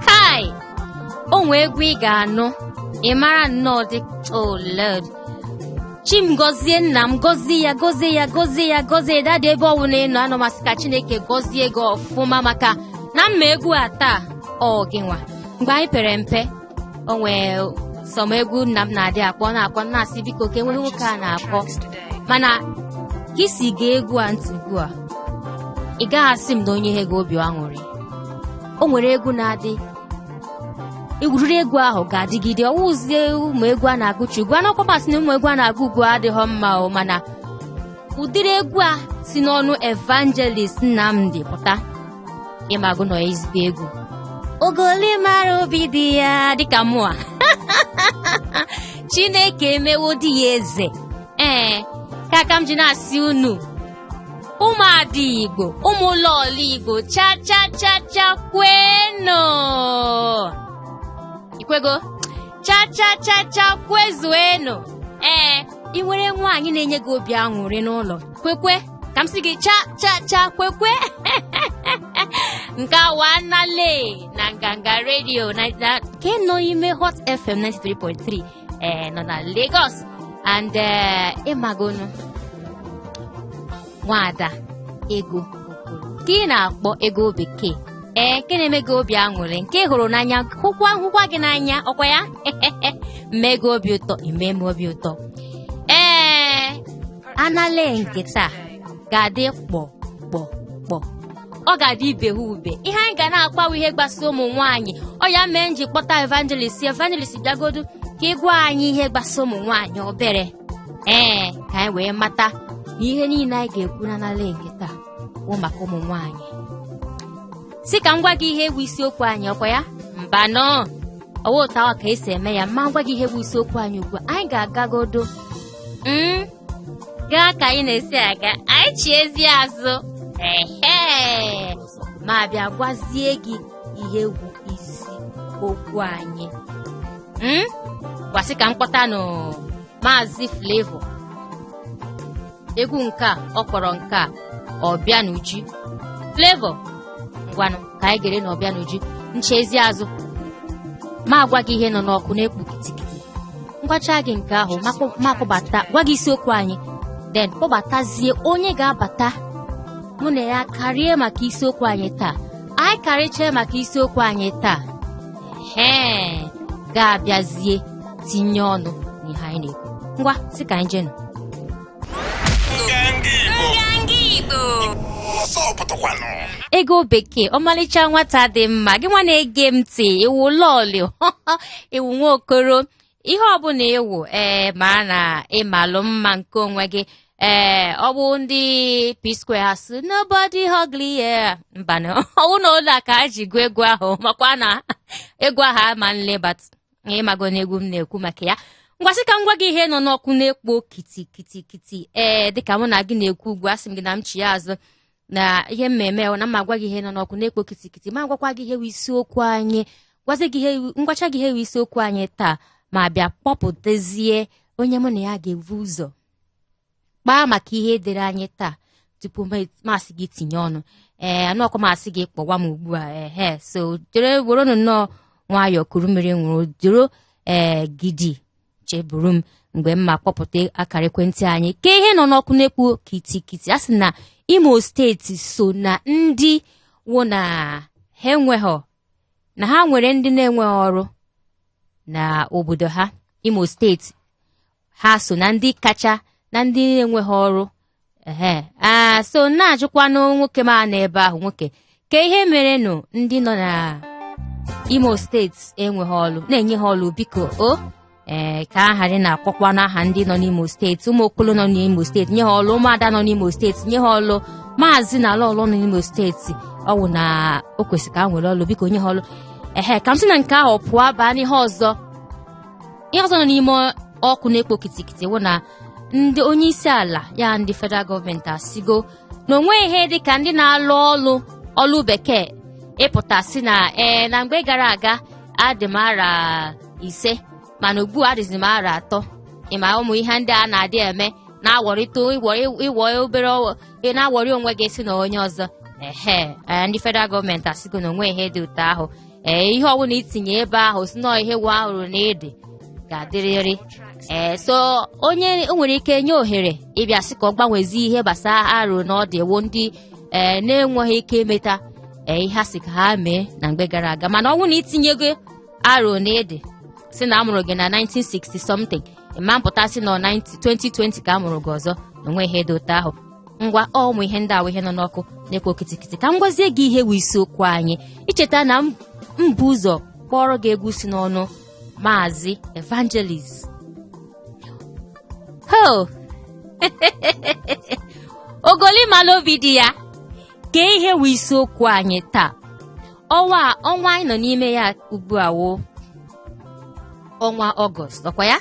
Kai! O nwe egwu ị ga-anụ ị mara nnọọ dị oh lord chi m gọzie nna m gọzie ya gọzie ya gọzie ya gọzie ya dada ebe ọwụla ị nọ anọ m asị ka chineke gọzie gị ọfụma maka na m ma egwu a taa ọ gị nwa mgbe anyị pere mpe o nwee some egwu nna m na-adị akpọ na-akpọ na-asị biko ka enweghị nwoke a na-akpọ mana ka i si gee egwu a ntị ugbu a ị gaghị asị m na o nyehe gị obi aṅụrị o nwere egwu na-adị egwuriri egwu ahụ ga-adịgide ọ wụzie ụmụ egwu a na-agụchi ugbu a anọkwa m asị na ụmụ egwu a na-agụ ugbu a adịhọ mma o mana ụdịrị egwu a si n'ọnụ evangelist Nnamdi pụta ị mago na ọ ezigbo egwu ogoli mara obi di ya dịka mụa Chineke emewo di ya eze ee ka aka m ji na-asị unu ụmụada Igbo ụmụ lọọlọ Igbo cha cha cha cha kwenụ i kwego cha cha cha cha kwezuenu ee ị nwere nwaanyị na-enye gị obi aṅụrị n'ụlọ kwekwe ka m sị gị cha cha cha kwekwe nke a wụ anale na nganga redio na na- nke nọ n'ime hot fm 93.3 ee nọ na lagos and ee ị magonụ nwaada ego nke ị na-akpọ ego bekee ee nke na-eme gị obi aṅụrị nke ị hụrụ n'anya hụkwa hụkwa gị n'anya ọkwa ya m mee gị obi ụtọ i mee m obi ụtọ ee anale nke taa ga-adị kpọ kpọ kpọ ọ ga-adị ibe ha ube ihe anyị ga na-akpawa ihe gbasa ụmụ nwaanyị ọ ya mee m ji kpọta evangelist evangelist bịagodu ka ị gwa anyị ihe gbasa ụmụ nwaanyị obere ee ka anyị wee mata na ihe niile anyị ga-ekwu na anale nke taa bụ maka ụmụ nwaanyị sị ka m gwa gị ihe bụ isiokwu anyị ọkwa ya mbanụ ọ wụ otu anwa ka e si eme ya ma m gwa gị ihe bụ isiokwu anyị ugbu a anyị ga-agagodo mm, gaa ka anyị na-esi aga anyị chiezie azụ ehe m abịa gwazie gị ihe wụ isi okwu anyị Mm? ngwa sị ka m kpọtanụ maazị Flavour egwu nke a ọ kpọrọ nke a Ọbịanuju Flavour ngwanụ ka anyị gere na Ọbịanuju m chiezie azụ m agwa gị ihe nọ n'ọkụ na-ekpu kitikiti m gwachaa gị nke ahụ m akpọ- m akpọbata gwa gị isiokwu anyị then kpọbatazie onye ga-abata mụ na ya karịa maka isiokwu anyị taa anyị karịchaa maka isiokwu anyị taa hee ga-abịazie tinye ọnụ n'ihe anyị na-ekwu ngwa sị ka anyị jenụ ego bekee ọmalịcha nwata dị mma gị nwa na-ege m ntị ị wụ lọlọ ị wụ nwa okoro ihe ọbụla ị wụ ee maa na ị malụ mma nke onwe gị ee ọ bụ ndị P-Square ha sị nobody ugly yeah mbanụ ọ wụ na ụlọ a ka a ji gụọ egwu ahụ makwa na egwu ahụ ama nlebat ịmago na egwu m na-ekwu maka ya ngwa sị ka m gwa gị ihe nọ n'ọkụ na-ekpo kiti kiti kiti ee dịka mụ na gị na-ekwu ugbu a asị m gị na m chia azụ na ihe mmemme na m ma gwa gị ihe nọ n'ọkụ na-ekpo kitikiti ma gwakwa gị ihe isiokwu anyị gwazi gị ihe m gwacha gị ihe isiokwu anyị taa ma bịa kpọpụtazie onye mụ na ya ga-ebu ụzọ kpaa maka ihe edere anyị taa tupu m asị gị tinye ọnụ ee anụọkwa m asị gị kpọwa m ugbu a ehe so jere werenụ nnọọ nwayọọ kuru mmiri ṅụrụ jụrụ ee gidi cheburu m mgbe m ma kpọpụta akara ekwentị anyị ka ihe nọ n'ọkụ na-ekpo kitikiti a sị na imo steeti so na ndị wụ na ha enweghọ na ha nwere ndị na-enweghị ọrụ na obodo ha imo steeti ha so na ndị kacha na ndị na-enweghị ọrụ ehe aa so na-ajụkwanụ nwoke m nọ ebe ahụ nwoke kee ihe mere nụ ndị nọ na imo steeti enweghị ọlụ na-enye ha ọlụ biko o ee ka a ghara na-akpọkwa n'aha ndị nọ n'imo steeti ụmụ okolo nọ n'imo steeti nye ha ọlụ ụmụada nọ n'imo steeti nye ha ọlụ maazị na lọlọ nọ n'imo steeti ọ wụ na o kwesịrị ka ha nwere ọlụ biko nye ha ọlụ ehe ka m si na nke ahụ pụọ baa n'ihe ọzọ ihe ọzọ nọ n'ime ọkụ na-ekpo kitikiti wụ na ndị onye isi ala ya ndị federal gọọmenti asịgo na o nweghị ihe dị ka ndị na-alụ ọlụ ọlụ bekee ịpụta sị na ee na mgbe gara aga adị m arọ ise mana ugbu a adịzi m arọ atọ ịma ụmụ ihe ndị a na-adị eme na-awọrịta ịwọ obere na-awọrị onwe gị si na onye ọzọ ehe ndị federal gọọmenti asịgo na o nweghị ihe dị otu ahụ ee ihe ọbụla itinye ebe ahụ sị na ihe wụ arọ na ID ga-adịrịrị ee so onye nwere ike nye ohere ịbịa sị ka ọ gbanwezi ihe gbasara arọ na ID wụ ndị ee na-enweghị ike imeta ee ihe a sị ka ha mee na mgbe gara aga mana ọ bụrụ na itinyego arọ na ID sị na amụrụ gị na 1960 something ị ma pụta sị na 2020 ka amụrụ gị ọzọ o nweghị ihe dị otu ahụ ngwa ụmụ ihe ndị a wụ ihe nọ n'ọkụ na-ekwo kitikiti ka m gwazie gị ihe wụ isiokwu anyị i cheta na m bu ụzọ kpọọrọ gị egwu si n'ọnụ maazị evangelist ho ogoli malụ obi di ya kee ihe wụ isiokwu anyị taa ọnwa a- ọnwa anyị nọ n'ime ya ugbu a wụ ọnwa ọgọst ọkwa ya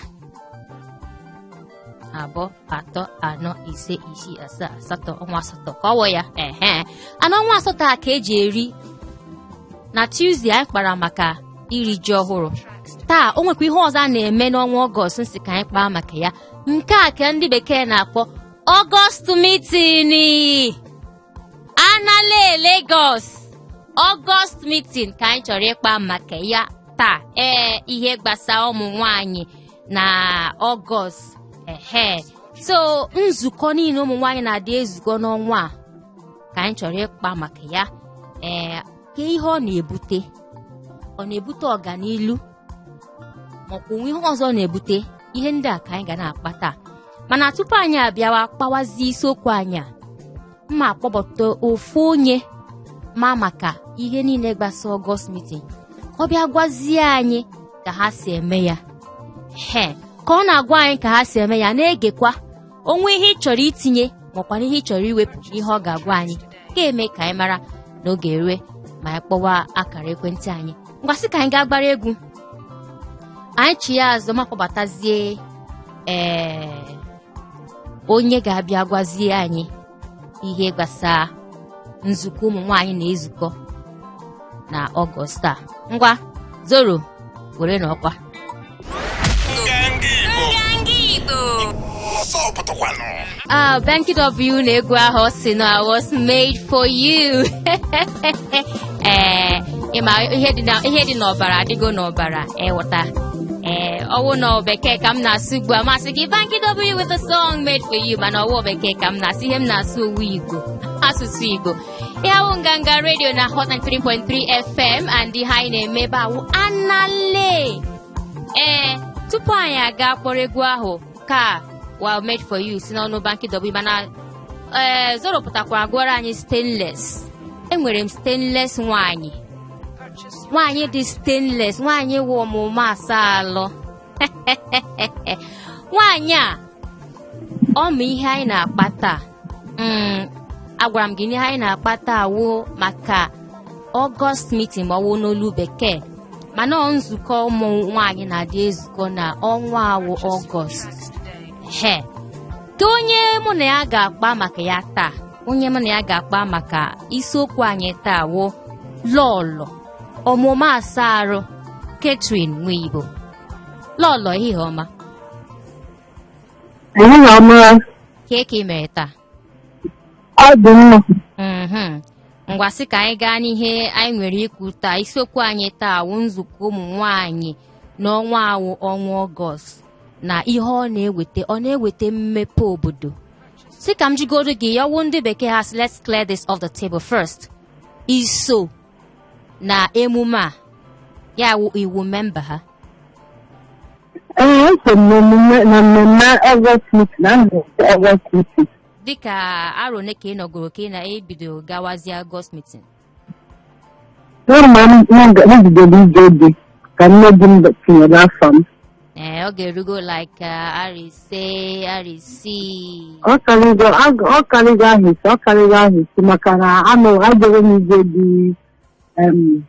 abụọ atọ anọ ise isii asaa asatọ ọnwa asatọ ka ọ wụ ya ehe and ọnwa asatọ a ka e ji eri na Tuesday anyị kpara maka iri ji ọhụrụ taa o nwekwa ihe ọzọ a na-eme n'ọnwa ọgọst m sị ka anyị kpaa maka ya nke a ka ndị bekee na-akpọ ọgọst mitin anale Lagos ọgọst mitin ka anyị chọrọ ịkpa maka ya taa ee ihe gbasara ụmụ nwanyị na ọgọst ehe so nzukọ niile ụmụ nwaanyị na-adị ezukọ n'ọnwa a ka anyị chọrọ ịkpa maka ya ee kee ihe ọ na-ebute ọ na-ebute ọganilu ma ọ kwa o nwe ihe ọzọ na-ebute ihe ndị a ka anyị ga na-akpa taa mana tupu anyị abịawa kpawazie isiokwu anyị a m ma akpọbata ofu onye ma maka ihe niile gbasa ọgọst mitin ọ bịa gwazie anyị ka ha si eme ya he ka ọ na-agwa anyị ka ha si eme ya na-egekwa o nwee ihe ị chọrọ itinye makwana ihe ị chọrọ iwepụ n'ihe ọ ga-agwa anyị ga-eme ka anyị mara n'oge erue ma anyị kpọwa akara ekwentị anyị ngwa sị ka anyị gaa gbara egwu anyị chia azụ m akpọbatazie ee onye ga-abịa gwazie anyị ihe gbasara nzukọ ụmụ nwaanyị na-ezukọ na ọgọst a ngwa zoro were na ọkwa Ah, Banky W na egwu ahụ sị na I was made for you. ee ị ma ihe dị na- ihe dị n'ọbara adịgo n'ọbara ị ghọta ee ọ wụ na bekee ka m na-asụ ugbu a m asị gị banky w with a song made for you mana ọ wụ bekee ka m na-asụ ihe m na-asụ ọ wụ igbo asụsụ igbo ihe a wụ nganga redio na hot 93.3 fm and ihe anyị na-eme ebe a wụ anale ee tupu anyị aga kpọrọ egwu ahụ nke a wụ made for you si n'ọnụ banky w mana ee zoro pụtakwara gụọrọ anyị stainless enwere m stainless nwanyị nwanyị dị stainless nwanyị wụ ọ ma ụma asa alụ nwanyị a ọ ma ihe anyị na-akpa taa Mm, agwara m gị n'ihe anyị na-akpa taa wụ maka ọgọst mitin ma ọ wụ n'olu bekee mana ọ nzukọ ụmụ nwaanyị na-adị ezukọ na ọnwa a wụ ọgọst he ka onye mụ na ya ga-akpa maka ya taa onye mụ na ya ga-akpa maka isiokwu anyị taa wụ lọlọ ọmụma asaa arụ Catherine Nwigbo lọlọ ehihie ọma Ehihie ọma, Kee ka ị mere taa? ọ dị mma. Mhm. Ngwa sị ka anyị gaa n'ihe anyị nwere ikwu taa. Isiokwu anyị taa wụ nzukọ ụmụ nwaanyị n'ọnwa a wụ ọnwa Ọgọst na ihe ọ na-eweta ọ na-eweta mmepe obodo. Sị ka m jụgodu gị ya wụ ndị bekee ha sị, let's clear this off the table first. I so na emume a ya wụ ị wụ memba ha Ee, eso m n'emume na mmemme Ọgọst Mitin na nzukọ Ọgọst Mitin. dịka arọ ole ka ị nọgoro ka ị na-ebido gawazie August meeting Kemgbe m m bidoro ije dị ka nne di m tinyere afa m ee ọ ga-erugo like uh, arọ ise arọ isii ọ karịgo ag- ọ karịgo ahọ isii ọ karịgo ahọ isii maka na anọgoro m n'ije di em,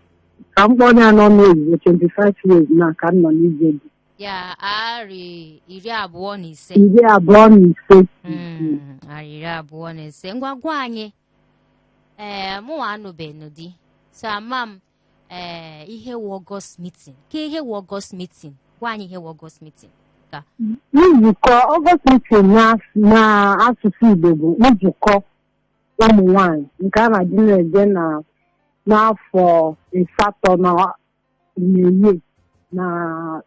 ka m kpọọ ya n'onu oyibo 25 years now ka m nọ n'ije di ya arọ iri abụọ na ise iri abụọ na ise Mm, arọ iri abụọ na ise ngwa gwa anyị ee mụnwa anụbeghị di so ama m ee ihe wụ ọgọst mitin kee ihe wụ ọgọst mitin gwa anyị ihe wụ ọgọst mitin nzukọ ọgọst mitin n'asụsụ igbo bụ nzukọ ụmụ nwanyị nke a na-adị na-eje na n'afọ asatọ na mmehie na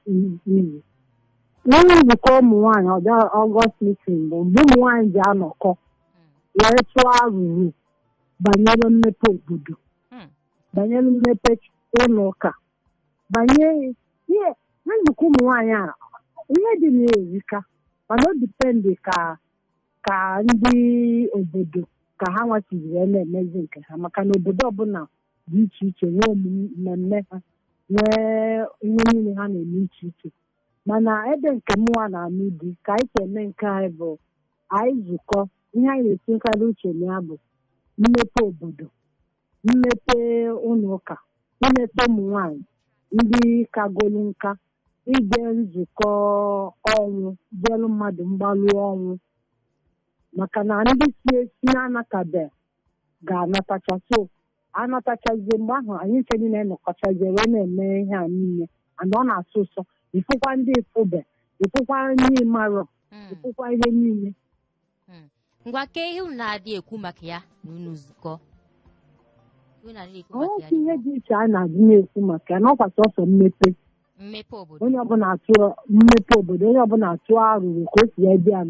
iwu n'ọnụ nzukọ ụmụ nwanyị ọ bụ ya ọgọst mitin bụ mgbe ụmụ nwanyị ji anọkọ wee tụọ arụrụ banyere mmepe obodo banyere mmepe ụlọ ụka banye ihe na nzukọ ụmụ nwaanyị a ihe dị na ya erika mana o dipendị ka ka ndị obodo ka hanwa siziri wee na-emezi nke ha maka na obodo ọbụla dị iche iche nwee omume mmemme ha nwee ihe niile ha na-eme iche iche mana ebe nke mụnwa na-anụ di ka anyị si eme nke anyị bụ anyị zukọ ihe anyị na-etinyekarị uche na ya bụ mmepe obodo mmepe ụlọ ụka mmepe ụmụ nwanyị ndị kagolu nka ije nzukọ ọnwụ jeelu mmadụ mgbalụ ọnwụ maka na ndị si ezi na-anatabe ga-anatacha so anatachazie mgbe ahụ anyị ncha niile nọkọchazie wee na-eme ihe a niile and ọ na-asọ ụsọ ị fụkwa ndị ị fụbe ị fụkwa ndị ị marọ Mm. ị fụkwa ihe niile ngwa kee ihe unu na-adị ekwu maka ya n'ụlọ nzukọ Ihe unu na-adị ekwu maka ya oke ihe dị iche anyị na-adị na-ekwu maka ya n'ọkwa sọsọ mmepe mmepe obodo onye ọbụla atụ mmepe obodo onye ọbụla atụọ arụrụ ka o si wee dị ya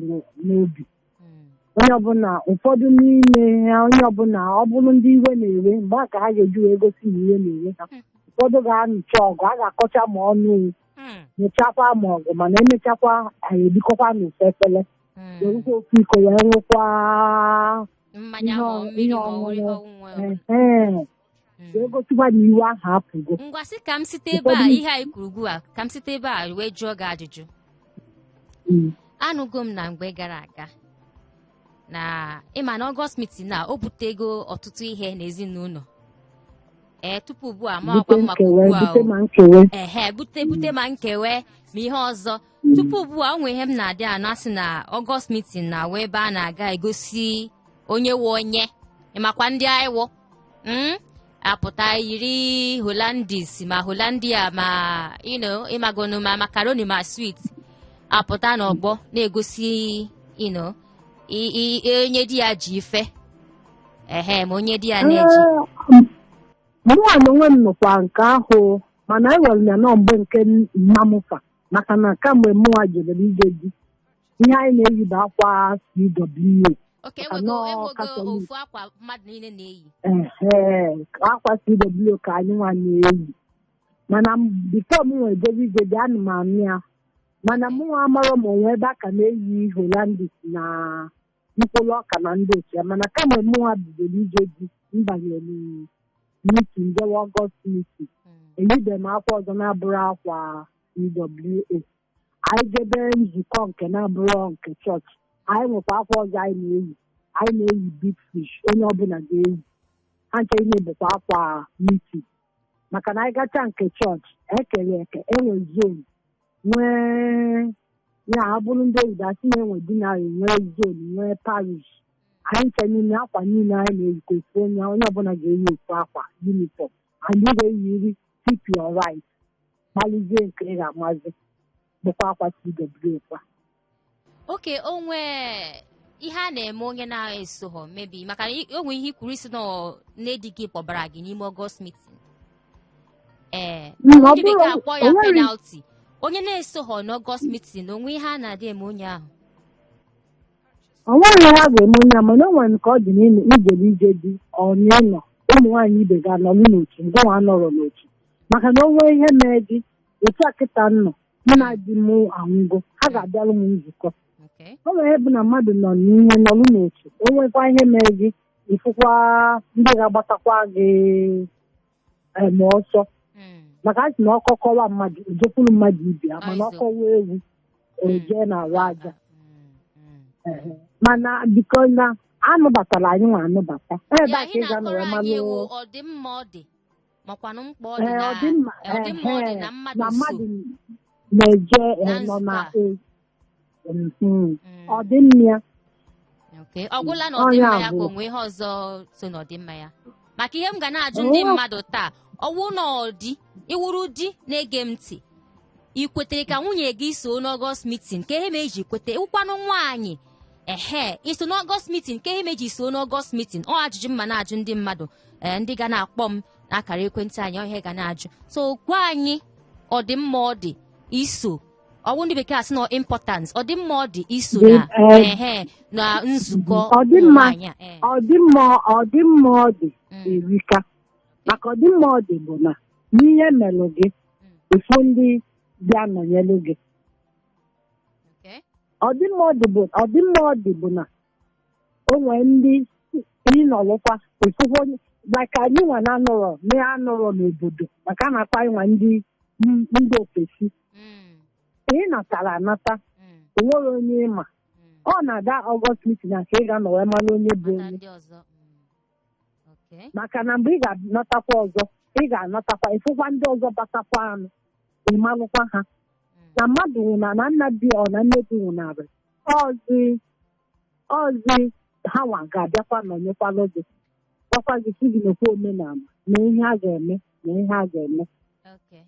n'obi Mm, onye ọbụla ụfọdụ n'ime ha onye ọbụla ọ bụrụ ndị iwe na-ewe mgbe a ka ha ga-eji wee gosi na iwe na-ewe ha ụfọdụ ga-anụcha ọgụ a ga-akọcha ma ọnụ mm, nụchakwa ma ọgụ mana emechakwa anyị erikọkwa n'ofu efere Mm. werukwa ofu iko wee ṅụkwa mmanya ihe ma ọ- ọ mmiri ihe ma ọ ọṅụṅụ. ihe ọṅụṅụ ọbụla. Ehe. wee Mm. gosikwa na iwe ahụ apụgo ngwa sị ka m site ebe a Ụfọdụ- ihe anyị kwuru ugbu a ka m site ebe a wee jụọ gị ajụjụ Mm. anụgo m na mgbe gara aga na ịma na ọgọst mitin na o butego ọtụtụ ihe n'ezinụlọ ee tupu ugbu a ma bute ọkwa ma nkewe ugbu a bute o. ma nkewe ehe bute bute ma nkewe ma ihe ọzọ tupu ugbu a onwe ihe m na-adị anụ a sị na ọgọst mitin na ọ wụ ebe a na-aga egosi onye wụ onye ịmakwa ndị anyị wụ mm? apụta yiri holandis ma holandia ma you know, ịmagonu ma makaroni ma swit apụta n'ọgbọ na-egosi you know, i- i- i- onye di ya ji ife ehe ma onye di ya na-eji mụnwa na onwe m nụkwa nke ahụ mana ewere m ya na ọ mgbe nke mma m fa maka na kamgbe mụnwa jebere ije di ihe anyị na-eyi bụ akwa CWO oke Maka enwego na ọ enwego kasị mma. ofu akwa mmadụ niile na-eyi ehe akwa CWO ka anyị nwa na-eyi mana bifo mụnwa ejebe ije di ana m anụ ya mana mụnwa amarọ ma onwe ebe a ka na-eyi holandis na mkpụrụ ọka na ndị otu ya mana kamgbe mụnwa bidoro ije di m banyere mitin jewe ọgọst mitin eyibe m akwa ọzọ na-abụrọ akwa CWO anyị jebe nzukọ nke na-abụrọ nke chọọchị anyị nwekwa akwa ọzọ anyị na-eyi anyị na-eyi big fish onye ọbụla ga-eyi ha ncha na-abụkwa akwa mitin maka na anyị gacha nke chọọchị ekere eke enwe zon nwee ya bụrụ ndị oyibo a sị na enwe dinari nwee zon nwee parish anyị ncha niile akwa niile anyị na-eyikọ ofu onye onye ọbụla ga-eyi ofu akwa yunifọm anyị ga-eyiri keep your right gbalụzie nke ị ga-amazi bụkwa akwa CWO kwa oke onwe ihe a na-eme onye na-esoghọ mebi maka na i- o nwere ihe i kwuru ị sị na ọ- nne di gị kpọbara gị n'ime ọgọst mitin ee Mm, ọ ndị bụrụ bekee akpọ ya onwere penalti onye na-esoghọ n'ọgọst mitin onwe ihe a na-adị eme onye ahụ onwerọ ihe a ga-eme onye ahụ mana o nwere ka ọ dị n'ijere ije di ọ n'ịnọ ụmụ nwaanyị ibe gị anọrọ n'otu ngịnwa anọrọ n'otu maka na onwe ihe mee gị otu a kịta nọ mụ na di m anwụgo ha ga-abịalụ m nzukọ Okay. o nwee ihe bụ na mmadụ nọ n'ihe nọrụ n'otu o nwekwa ihe mee gị ị fụkwa ndị ga-agbatakwa gị em, ọsọ Mm. maka a sị na ọkọ kọwa mmadụ o jekwuru mmadụ ibe ya mana Ọzọ. ọ kọwa ewu o jee n'arụ aja Mm, mm. mana biko na a nụbatara anyị nwa anụbata ebe Ee, a ka anyị ị ga-anọrọ na-akọrọ anyị ewu malụ ọ dị mma ọ dị makwanụ mkpa ọ dị Ee, na ọ dị mma ee, ọ dị mma ọ dị ehe, na mmadụ na so mmadụ na-eje ee, na nọ na nzukọ a. ee, mhm. Mm, ọ dị mma ya okay. ọ gwụla n'ọdịmma ya ka o nwe ihe ọzọ so n'ọdịmma ya maka ihe m ga na-ajụ ndị oo mmadụ taa ọ wụ na ọdị ị wụrụ di na-ege m ntị ị kwetere ka nwunye gị soo n'ọgọst mitin ka ihe me i ji kwete ị wụkwanụ nwaanyị ehe i so n'ọgọst mitin ka ihe me i ji soo n'ọgọst mitin ọ ajụjụ m ma na-ajụ ndị mmadụ ee ndị ga na-akpọ m n'akara ekwentị anyị ọ ihe a ga na-ajụ so gwa anyị ọdịmma ọ dị iso ọ wụ ndị bekee asị na importance ọdịmma ọ dị iso Dị, na eh, ehe na nzukọ ọdịmma ụmụnwaanyị a, eh. ọdịmma ọdịmma ọ dị Mm. erika maka ọdịmma ọ dị bụ na n'ihe melụ gị ị fụ ndị bịa nọnyelụ gị Okay. ọdịmma ọ dị bụ ọdịmma ọ dị bụ na o nwee ndị ị nọlụkwa ịfụfụ onye maka anyị nwa na-anọrọ na-anọrọ n'obodo maka a na-akpọ anyị nwa ndị m- ndị ofesi Mm, ka ị natara anata mm, o nwere onye ị ma mm. ọ na-aga ọgọst mitin a ka ị ga-anọ wee mara onye bụ Mata onye ndị ọzọ. Mm. Okay. maka na mgbe ị ga-anatakwa ọzọ ị ga-anatakwa ị fụkwa ndị ọzọ batakwanụ ị malụkwa ha Mm. na mmadụ nwụna na nna di ọ na nne di nwụnarị ọzi ọzi ha nwa ga-abịakwa nọnyekwalụ gị gwakwa gị sị gị nekwa omenala na ihe a ga-eme na ihe a ga-eme Okay.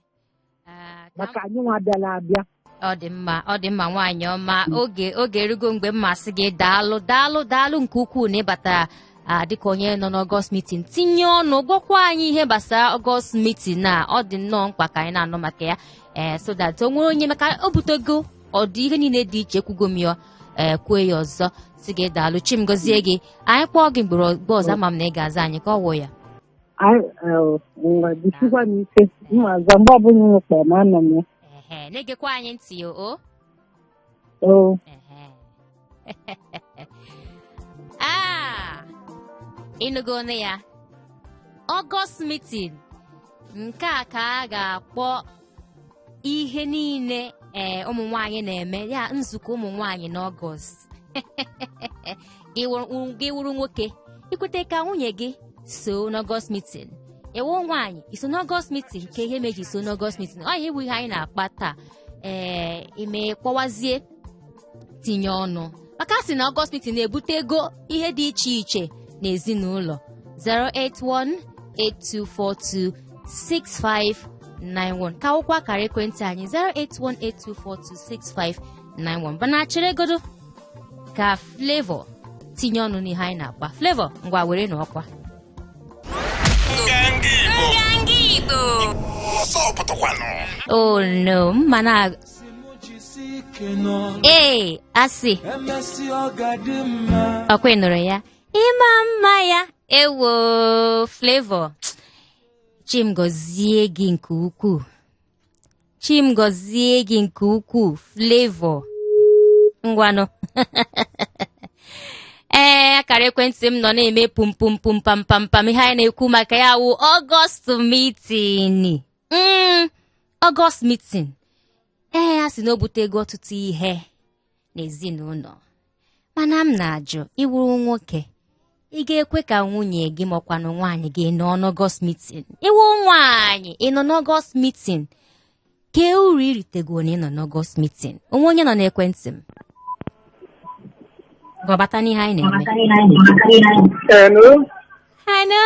Ah, ka m- maka anyị nwa bịara abịa ọ dị mma ọ dị mma nwaanyị ọma oge oge erugo mgbe m ma asị gị daalụ daalụ daalụ nke ukwuu na ị batara ah, dịka onye nọ n'ọgọst mitin tinye ọnụ gwakwa anyị ihe gbasara ọgọst mitin a ọ dị nnọọ mkpa ka anyị na-anụ maka ya ee so that o nwere onye maka o butego ọ dị ihe niile dị iche ekwugo m ya ee kwue ya ọzọ sị gị daalụ chi m gọzie gị anyị kpọọ gị mgbe mgbe ọzọ ama m na ị ga-aza anyị ka ọ wụ ya anyị eh, ngwa jisikwanụ ike m ma aza mgbe ọbụla unu kpọrọ m anọ m ya ehe na-egekwa anyị ntị o o oo ehe Ah! ị nụgonụ ya ọgọst mitin nke a ka a ga-akpọ ihe niile ee ụmụ nwanyị na-eme ya nzukọ ụmụ nwanyị n'ọgọst gị wụrụ- gị wụrụ nwoke i kweta ka nwunye gị so n'ọgọst mitin ị wụ nwaanyị i so n'ọgọst mitin kee ihe me i ji so n'ọgọst mitin ọ ya wụ ihe anyị na-akpa taa ee ime kpọwazie tinye ọnụ maka a sị na ọgọst mitin na-ebute ego ihe dị iche iche n'ezinụlọ 08182426591 ka wụkwa akara ekwentị anyị 08182426591 mana cheregodo ka Flavour tinye ọnụ n'ihe anyị na-akpa Flavour ngwa were na ọkwa Nganga Igbo. Ọsọ pụtakwanụ. oh no mma na ee asị ọkwa nụrụ ya ịma mma ya ewo Flavour Chi m gozie gị nke ukwuu Chi m gozie gị nke ukwuu Flavour ngwanụ ee akara ekwentị m nọ na-eme pum pum pum pam pam pam ihe anyị na-ekwu maka ya wụ ọgọst mitini Mm, August meeting. Ee, a sị na o butego ọtụtụ ihe n'ezinụlọ. Mana m na-ajụ ị wụrụ nwoke. Ị ga-ekwe ka nwunye gị ma ọ kwanụ nwaanyị gị nọ n'August meeting. Ị wụ nwaanyị ị nọ n'August meeting. Kee uru ị ritegoro na ị nọ n'August meeting. O nwe onye nọ n'ekwentị m. Ngwa bata n'ihe anyị na-eme. Hello? Hello.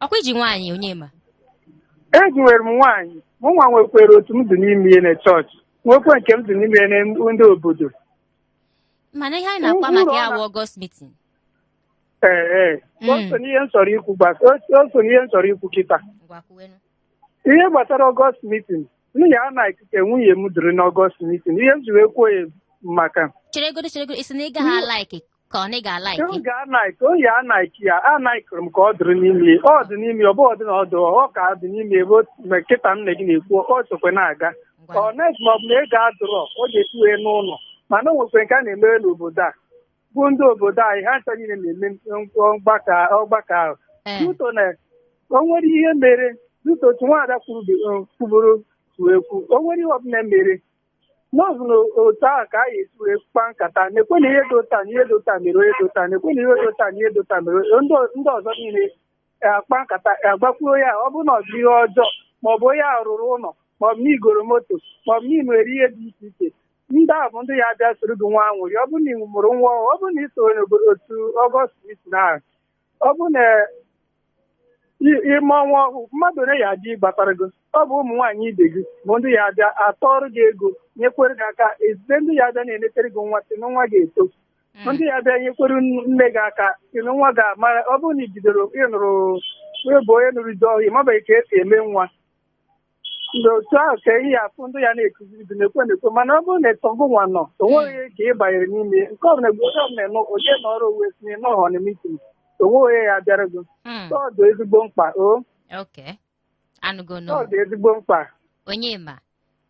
ọkwa i ji nwaanyị onye ma eji nwere m nwaanyị mụ nwa nwekwere otu m dị n'ime ya na chọọchị nwekwe nke m dị n'ime ya na ndị obodo mana ihe anyị na-akpa maka ya bụ ọgọst mitin ee ee o so n'ihe m chọrọ ikwu gbasa o so n'ihe m chọrọ ikwu kịta ihe gbasara ọgọst mitin m ya-anaiki ka nwunye m dịrị n'ọgọst mitin ihe m ji wee kwuo ya maka cheregodo cheregodo ị sị na ị gaghị alaiki ka ọ na ị ga-alaiki m ga-anaiki oyi anaiki ya anaikiri m ka ọ dịrị n'ime ọ dị n'ime ọ bụ ọ dị na ọ dụ ọ ka dị n'ime ebe o- ma kịta m na gị na-ekwu ọ sokwe na-aga unless ma ọ bụ na ego adụrọ ọ ga-etuwe n'ụlọ mana o nwekwe nke a na-emere n'obodo a bụ ndị obodo anyị ha ncha niile na-eme mgbakọ ọgbakọ ahụ Ee, due to na o nwere ihe mere due to otu nwaada kwuru- kwuburu kwuo ekwu o nwere ihe ọbụla mere na ọ bụ na otu ahụ ka a ga-esi wee kpa nkata na-ekwu na ihe dị otu a na ihe dị otu a mere onye dị otu a na-ekwu na ihe dị otu a na ihe dị otu a mere onye- ndị o- ndị ọzọ niile akpa nkata agbakwuru ya ọ bụrụ na ọ bụ ihe ọjọọ maọbụ onye a rụrụ ụlọ maọbụ na ị goro moto maọbụ na ị nwere ihe dị iche iche ndị a bụ ndị ya abịa soro gị nwee anwụrị ọ bụrụ na ị mụrụ nwa ọhụrụ, ọ bụrụ na ị so n'obodo otu ọgọst na ọ bụrụ na i- ị mụọ nwa ọhụụ mmadụ ole ya abịa gbatara gị ọ bụ ụmụ nwaanyị ibe gị bụ ndị ya abịa atụọrọ gị ego nyekwere gị aka ezite ndị ya abịa na-enetere gị nwa sị na nwa ga-eto ndị ya abịa nyekwere nne gị aka sị na nwa ga-amara ọ bụrụ na i bidoro ị nụrụ ị bụ onye nụrụ di ọhụụ ị mabeghị ka esi eme nwa ndị otu ahụ ka ị ya afụ ndị ya na-ekuziri gị na-ekwu na-ekwu mana ọ bụrụ na ịtọgụ nwa nọ o nweghị nke ị banyere n'ime ya. nke ọbụla mgbe onye ọbụla nọ onye nọrọ onwe sị na ọ nọhọ na mitin o nweghị onye ya abịara gị Mm, ọ dị ezigbo mkpa o okay. Anụgo nụ. ọ dị ezigbo mkpa onye ma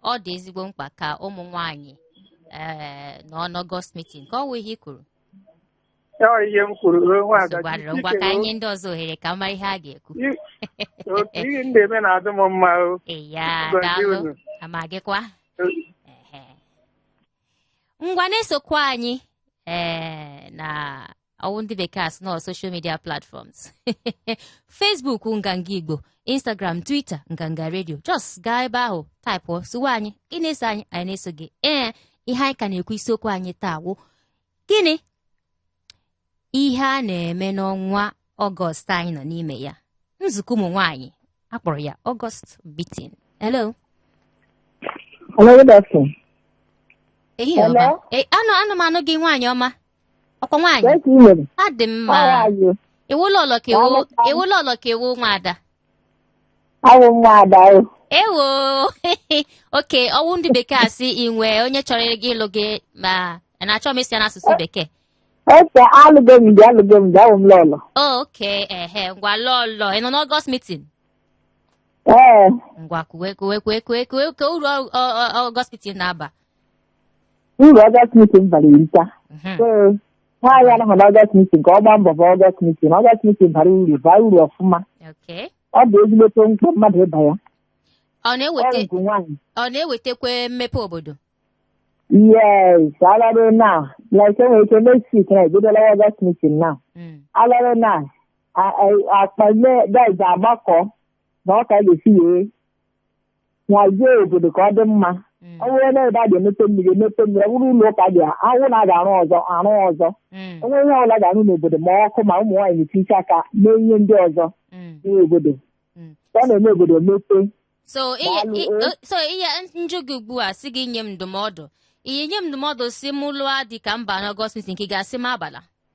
ọ dị ezigbo mkpa ka ụmụ nwanyị ee nọ n'ọgọst mitin ka ọ wụ ihe i kwuru Ọ ihe m kwuru ruo nwa ada Nsogbu adịrọ. ngwa ka anyị nye ndị ọzọ ohere ka a mara ihe ha ga-ekwu otu ihe ndị eme na-adị m mma o eya Gọzie daalụ unu. ma gịkwa Ehe. ngwa na-esokwa anyị ee na ọwụ ndị bekee asị na ọ social media platforms facebook nganga igbo instagram twitter nganga radio just gaa ebe ahụ taịpụ sowe anyị ị na-eso anyị anyị na-eso gị ee ihe anyị ka na-ekwu isiokwu anyị taa wụ gịnị ihe a na-eme n'ọnwa ọgọst anyị nọ n'ime ya nzukọ ụmụ nwaanyị akpọrọ ya ọgọst mitin hello Hello, good afternoon. ehihie ọma Hello? Eh, ana m anụ gị nwaanyị ọma ọkwa nwaanyị Yes, you know. adị mma How are you? ị wụ lọlọ ka ị wụ Nwanne m. ị wụ lọlọ ka ị wụ nwa ada Awụ m nwa ada o. ewo oke ọwụ ndị bekee asị i nwe onye chọrọ gị ịlụ gị mana achọ m ịsụ ya n'asụsụ bekee Ese alụgo m di alụgo m di awụ m lọlọ. oke ehe ngwa lọlọ ị nọ n'ọgọst mitin Ee, ngwa kwuwe kwuwe kwuwe kwuwe kwuwe ka uru ọ- ọ- ọ- ọgọst mitin na-aba uru ọgọst mitin bara erika. Mhm. So, nwaanyị anọghị n'ọgọst mitin ka ọ gbaa mbọ baa ọgọst mitin na ọgọst mitin bara uru baa uru ọfụma Okay. ọ bụ ezigbote mkpa mmadụ ịba ya Ọ ọ na-eweta rụgo nwaanyị ọ na-ewetakwa mmepe obodo. yes already now like enwere ike next week na ebidola ọgọst mitin na Mm. already now akpa nne daiz agbakọ na ọ ka ga-esi wee nwazie obodo ka ọ dị mma Mm. ọ bụrụ na ebe a ga-emepe mmiri emepe mmiri ọ bụrụ ụlọ ụka dị ahụ na a ga-arụ ọzọ arụ ọzọ Mm. o nwee ihe ọbụla ga-arụ n'obodo ma ọkụ ma ụmụ nwaanyị na-etinye aka mee ihe ndị ọzọ Mm. n'obodo Mm. ka ọ na-eme obodo mepe so ihe Daalụ, i- o. o- so m jụọ gị ugbu a sị gị nye m ndụmọdụ ị ya-enye m ndụmọdụ sị m lụọ di ka m baa n'ọgọst mitin ka ị ga-asị m abala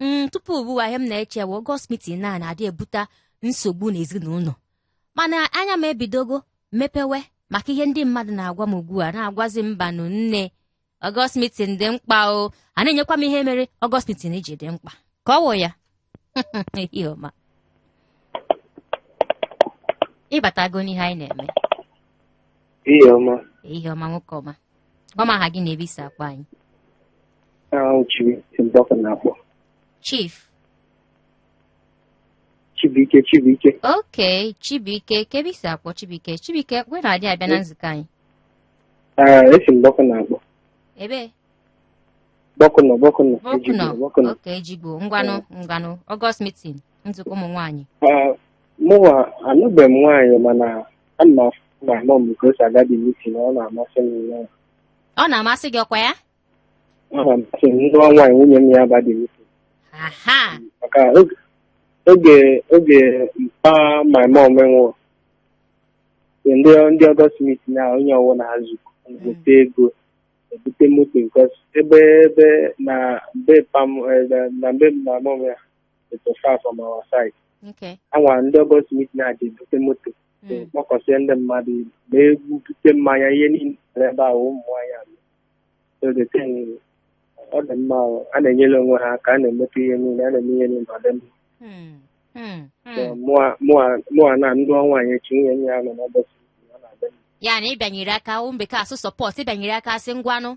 Mm, tupu ugbu a ihe m na-eche bụ ọgọst mitin a na-adị ebute nsogbu n'ezinụlọ mana anya m ebidogo mepewe maka ihe ndị mmadụ na-agwa m ugbu a na-agwazi mba nụ nne ọgọst mitin dị mkpa o a na-enyekwa m ihe mere ọgọst mitin ji dị mkpa ka ọ wụ ya Ehihie ọma. ịbatago n'ihe anyị na-eme Ehihie ọma. ehihie ọma nwoke ọma Gwa m aha gị na ebe i si akpọ anyị. Ọ wụ Chibuike na-akpọ. Chief. Chibuike Chibuike. Okay, Chibuike, kee ebe i si akpọ Chibuike. Chibuike, wee na-adị abịa na nzukọ anyị. Ee, esi m Bucknor akpọ. Ebe? Bucknor Bucknor. Bucknor. Bucknor. Okay, Ejigbo. Ngwanụ, ngwanụ. August meeting, nzukọ ụmụ nwaanyị. Ee, mụwa anụbeghị m nwaanyị mana Ana m afụ my mom ka o si aga the meeting ọ na-amasị m ya. ọ na-amasị gị ọkwa ya Ọ na-amasị m m nụọ nwaanyị nwunye m ya aba the meeting. aha Maka oge oge oge mpa my mom nwụrụ ndị ndị ọgọst mitin na onye ọwụna azụkọte ego ebute moto because ebe ebe na mbe mpa m eh, na na mbe my mom ya it was far from our side Okay. anwa ndị ọgọst mitin na-adị ebute moto so Mm. kpọkọsie ndị mmadụ ibu ma egwu bute mmanya ihe niile mere ebe ahụ ụmụ nwaanyị ahụ so the thing is, ọ dị mma o. a na-enyere onwe ha aka a na-emepe ihe niile a na-eme ihe niile ọ dị mma Mm. Mm. So, Mm. mụa- mụa- mụa na m nụọ nwaanyị echi nwunye m ya-anọ n'ọgọst mitin ọ na-adị mma ya na ị bịanyere aka ụmụ bekee asị support ị bịanyere aka a sị ngwanụ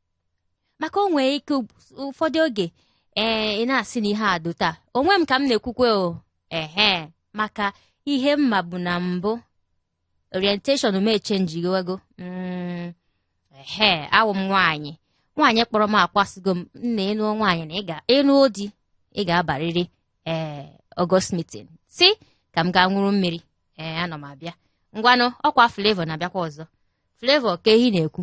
maka o nwee ike ụfọdụ oge ee ị na-asị na ihe a dị otu a onwe m ka m na-ekwukwa o ehe maka ihe m mabu na mbụ orientation m echenjighego mm, ehe awụ m nwaanyị nwaanyị kpọrọ m akọwasịgo m na ị nụọ nwaanyị na ị nụọ di ị ga-abarịrị ee ọgọst mitin sị ka m gaa ṅụrụ mmiri ee ana m abịa ngwanụ ọkwa Flavour na-abịakwa ọzọ Flavour ka anyị na-ekwu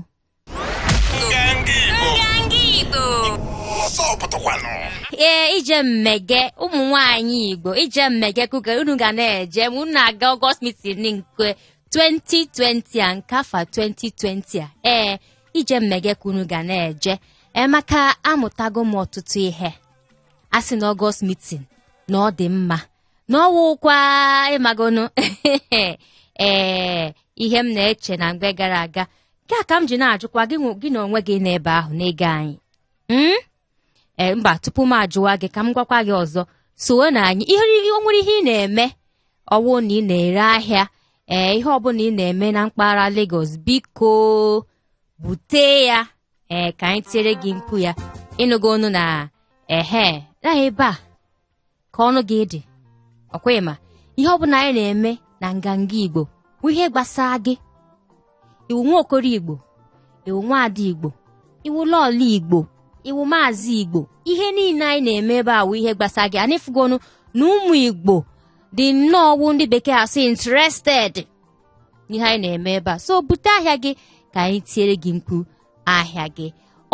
ee ije mmege ụmụ nwaanyị igbo ije mmege kuke unu ga na-eje ma unu na-aga ọgọst mitin nke 2020 a nke afọ 2020 a ee ije mmege ka unu ga na-eje ee maka amụtago m ọtụtụ ihe a sị na ọgọst mitin na ọ dị mma na ọwụkwa ịmagonu ee ihe m na-eche na mgbe gara aga nke a ka m ji na-ajụkwa gị nwe- gị na onwe gị n'ebe ahụ na-ege anyị Mm? ee mba tupu m ajụwa gị ka m gwakwa gị ọzọ sowe na anyị ihe o nwere ihe ị na-eme ọwụ na ị na-ere ahịa ee ihe ọbụla ị na-eme na mpaghara Lagos biko bute ya ee ka anyị tiere gị mkpu ya ịnụgo ọnụ na ehe na ebe a ka ọnụ gị dị ọkwa ịma ihe ọ bụla anyị na-eme na nganga igbo bụ ihe gbasara gị ị wụ nwa okoro igbo ị wụ nwa ada igbo ị wụ lọọlọ igbo ị wụ maazị igbo ihe niile anyị na-eme ebe a wụ ihe gbasara gị anyị fụgonu na ụmụ igbo dị nnọọ wụ ndị bekee asị interested n'ihe anyị na-eme ebe a so bute ahịa gị ka anyị tiere gị mkpu ahịa gị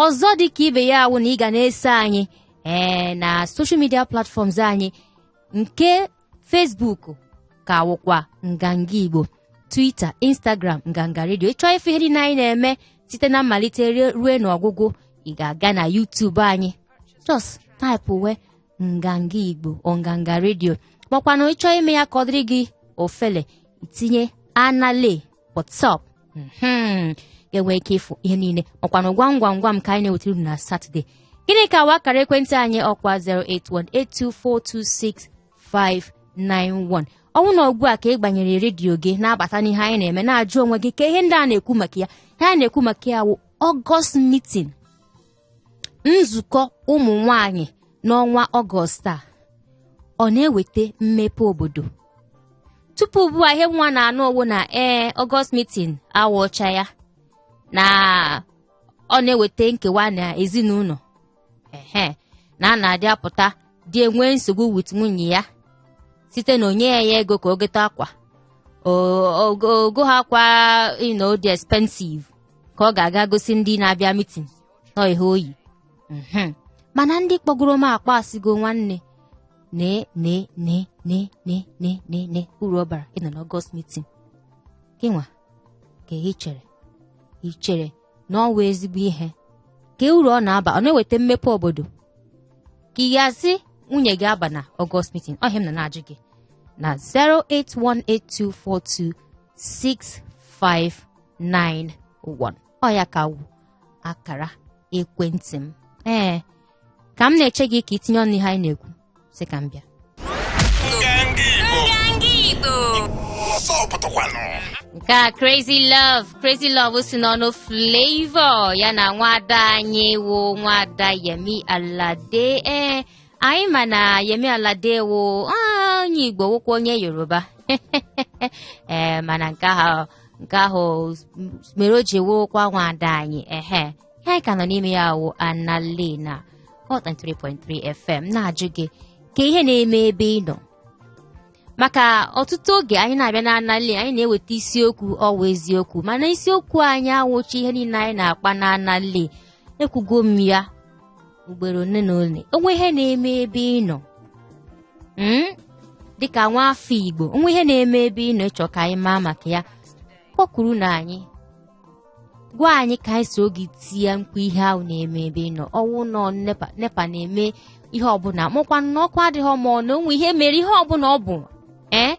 ọzọ dị ka ibe ya awụ na ị ga na-eso anyị ee na social media platforms anyị nke Facebook ka wụkwa nganga Igbo Twitter Instagram nganga redio ị chọọ ịfụ ihe niile anyị na-eme site na mmalite ruo n'ọgwụgwụ ị ga-aga na YouTube anyị just taịpụwe nganga Igbo nganga redio makwanụ ị chọọ ime ya ka ọ dịrị gị ofele itinye anale WhatsApp mhm, ga-enwe ike ịfụ ihe niile makwanụ gwam gwam gwam ka anyị na-ewetara unu na satọde gịnị ka wụ akara ekwentị anyị ọkwa 08182426591 ọnwụ na ugbu a ka ị gbanyere redio gị na-abata n'ihe anyị na-eme na-ajụ onwe gị kee ihe ndị a na-ekwu maka ya ihe a na-ekwu maka ya wụ August meeting nzukọ ụmụ nwanyị n'ọnwa ọgọst a ọ na-eweta mmepe obodo tupu ugbu a ihe mụwa na-anụ ọwụ na ee ọgọst mitin awụcha ya na ọ na-eweta nkewa na ezinụlọ ehe na a na-adị apụta di enwee nsogbu with nwunye ya site na o nyeghị ya ego ka o gote akwa ogo ha akwa you know dị expensive ka ọ ga-aga gosi ndị na-abịa mitin nọ ihe o yi mhm. mana ndị kpọgoro m akpọ asịgo nwanne ne ne ne ne ne ne ne ne uru ọ bara ịnọ n'ọgọst mitin gịnwa kee ihe ị chere ị chere na ọwụ ezigbo ihe kee uru ọ na-aba ọ na-eweta mmepe obodo ka ị ga-asị nwunye gị abana ọgọst mitin ọ ihe m na na-ajụ gị na 08182426591 ọ ya ka wụ akara ekwentị m ee ka m na-eche gị ka i tinye ọnụ ihe anyị na-ekwu sị ka m bịa nke a crazy love crazy love si n'ọnụ flavour ya na nwada anyị wụ nwada yemi alade ee anyị ma na yemi alade wụ ah, onye igbo wụkwa onye yoruba ee mana nke ahụ nke ahụ mere o ji wụrụkwa nwada anyị ehe ihe anyị ka nọ n'ime ya wụ anali na hot 93.3 fm na-ajụ gị kee ihe na-eme ebe ị nọ maka ọtụtụ oge anyị na-abịa na anali anyị na-eweta isiokwu ọ wụ eziokwu mana isiokwu anyị awụchi ihe niile anyị na-akpa na anali ekwugo m ya ugboro ole na ole o nwee ihe na-eme ebe ị nọ Mm? dịka nwa afọ igbo o nwee ihe na-eme ebe ị nọ ị chọ ka anyị maa maka ya kpọkurunụ anyị gwa anyị ka anyị so gị tie mkpu ihe ahụ na-eme ebe ị nọ ọ wụ na ọ nepa nepa na-eme ihe ọbụla ma ọ wụkwa na ọkụ adịghị ma ọ na o nwe ihe mere ihe ọbụla ọ bụ ee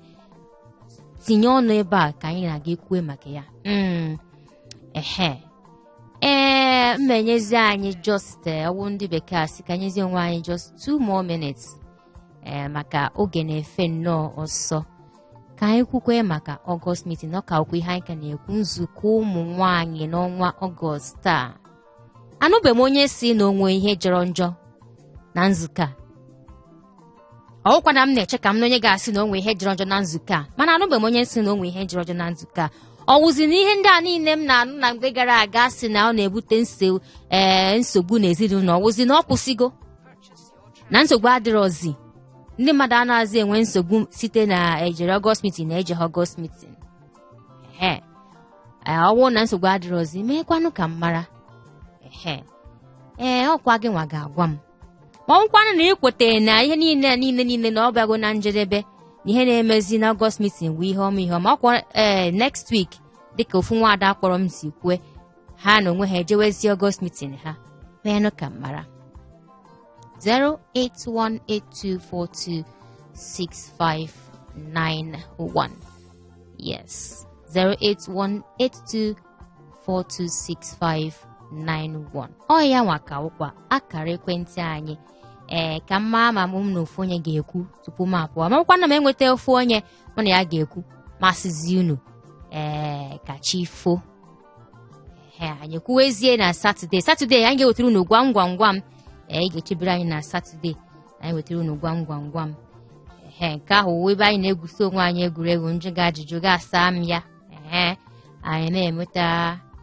tinye ọnụ ebe a ka anyị na gị kwue maka ya Mm, ehe ee m ma-enyezi anyị just eh, ọ wụ ndị bekee asị ka m nyezie onwe anyị just two more minutes ee maka oge na-efe nnọọ ọsọ ka anyị kwukwe maka ọgọst mitin ọ ka wụkwa ihe anyị ka na-ekwu nzukọ ụmụ nwanyị n'ọnwa ọgọst a anụbeghị m onye si na o nwe ihe jọrọ njọ na nzukọ a ọ wụkwa na m na-eche ka m nụ onye ga-asị na o nwe ihe jọrọ njọ na nzukọ a mana anụbeghị m onye si na o nwe ihe jọrọ njọ na nzukọ a ọ wụzi na ihe ndị a niile m na-anụ na mgbe gara aga si na ọ na-ebute nse- ee, nsogbu n'ezinụlọ ọ wụzi na ọ kwụsịgo na nsogbu adịrọzi ndị mmadụ anaghịzi enwe nsogbu site na e jere ọgọst mitin na e jeghị ọgọst mitin ehe ee ọ wụ na nsogbu adịrọzi meekwanụ ka m mara ehe ee ọ kwa gị nwa ga-agwa m ma ọ wụkwanụ na ị kwetara na ihe niile niile niile na ọ bịago na njedebe na ihe na-emezi na ọgọst mitin bụ ihe ọma ihe ọma ọ kwa ee next week dịka ofu nwaada kpọrọ m si kwue ha na onwe ha ejewezi ọgọst mitin ha meenụ ka m mara 08182426591 yes 08182426591 ọ ya nwa ka wụkwa akara ekwentị anyị ee ka m mara ma mụ na ofu onye ga-ekwu tupu m apụọ ma ọ wụkwa na m enweta ofu onye mụ na ya ga-ekwu m asịzi unu ee ka chi fo ee anyị kwuwezie na satọde satọde anyị ga-ewetara unu gwam gwam gwam ee ị ga-echebere anyị na satọde anyị wetara unu gwam gwam gwam ee nke ahụ wụ ebe anyị na-egwusi onwe anyị egwuregwu m jụọ gị ajụjụ gị asaa m ya ee anyị na-enweta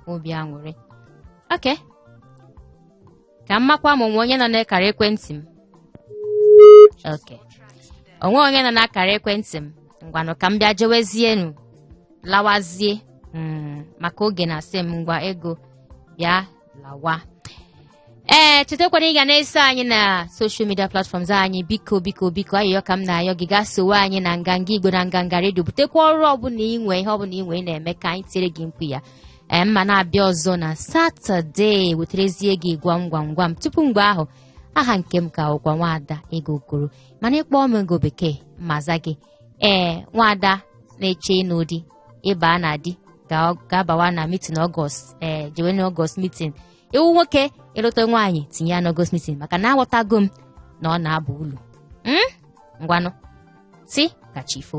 obi aṅụrị okay ka m makwa ma o nwe onye nọ n'akara ekwentị m okay o nwe onye nọ n'akara ekwentị m ngwanụ ka m bịa jewezienu lawazie mm, maka oge na-asị m ngwa ego bịa lawa ee chetakwana ị ga na-eso anyị na soshal midia platfọms anyị biko biko biko ayọyọ ka m na-ayọ gị gaa sowe anyị na nganga igbo na nganga redio butekwa ọrụ ọbụla i nwe ihe ọbụla i nwe ị na-eme ka anyị tiere gị mkpu ya ee m ma na-abịa ọzọ na satọde weterezie gị gwam gwam gwam tupu mgbe ahụ aha nke m ka wụkwa nwaada ego okoro mana ị kpọọ m ego bekee m aza gị ee nwaada na-eche ịnụ di ị baa na di ga-abawa na mitin ọgọst ee jewe na ọgọst mitin ị wụ nwoke ị lụta nwaanyị tinye ya n'ọgọst mitin maka na aghọtago m na ọ na-aba ulu ngwanụ sị ka chi fo